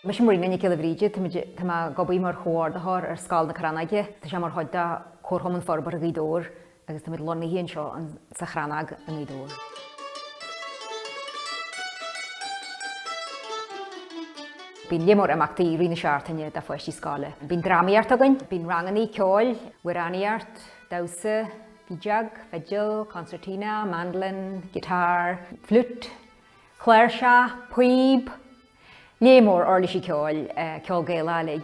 Mise Muireann Nic Giolla Bhríde. Táimid, tá mé ag obair mar Chomhordaitheoir ar Scoil na Crannóige. Tá sé mar chuid de Comharchumann Forbartha Ghaoth Dobhair agus táimid lonnaithe anseo sa Chrannóg i nGaoth Dobhair. Bíonn lear mór imeachtaí i rith na seachtaine do pháistí scoile. Bíonn drámaíocht againn, bíonn rangannaí ceoil, amhránaíocht, damhsa, feadóg, fidil, concertina, mandolin, guitar, fliút, cláirse, píob, lear mór uirlisí ceoil, ceol Gaelach uilig.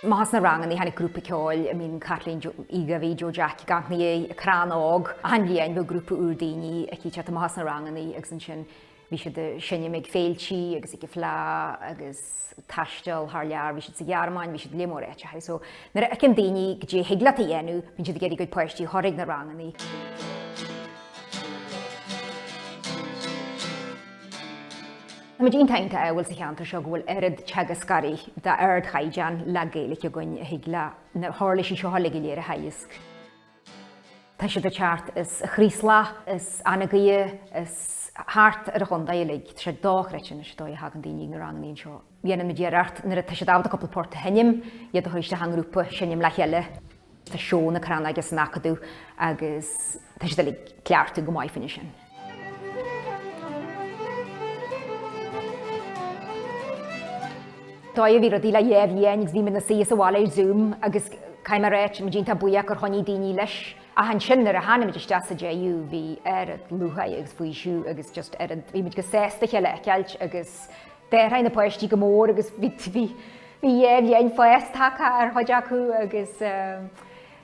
Amach as na ranganna tháinig grúpa ceoil, I mean Caitlín, Joe Gabhie, Joe Jack, i gceann An Crann Óg. Achan bhliain bhíodh grúpa úr daoine aici ag teacht amach as na ranganna agus ansin. Bhí siad ag seinm ag féiltí agus ag an fleá agus ag taisteal thar lear, bhí siad sa Ghearmáin, bhí siad i lear mór áiteacha. So nuair a fheiceann daoine caidé a thig leat a dhéanamh bíonn siad ag iarraidh a gcuid páistí a chur ag na ranganna. Táimid iontach iontach ádhúil sa cheantar seo go bhfuil oiread teagascóirí d'ardchaighdeán le Gaeilice againn a thig leo na huirlisí seo uilig go léir a theagasc. Tá siad ag teacht as an Chraoslach is Anagaire is thart ar an chontae uilig. Tá sé dochreidte anois an dóigh a thagann daoine ag na rangannaí anseo. Dhéanann muid iarracht nuair atá siad ábalta cúpla port a sheinm, iad a thabhairt isteach i ngrúpa, seinm le chéile. Tá seó na Crannóige san Acadamh agus tá siad uilig ag cleachtadh go maith fá choinne sin. Dóigh a bhí rudaí le dhá bhliain bhí muid ina suí sa bhaile ar Zoom agus caithfidh mé a rá tá muid iontach buíoch gur choinnigh daoine leis ach ansin nuair a tháinig muid isteach sa deireadh bhí oiread lúcháir agus faoiseamh agus just oiread bhí muid chomh sásta a chéile a fheiceáilt agus d'athraigh na páistí go mór agus bhí dhá bhliain fás tagtha ar chuid acu agus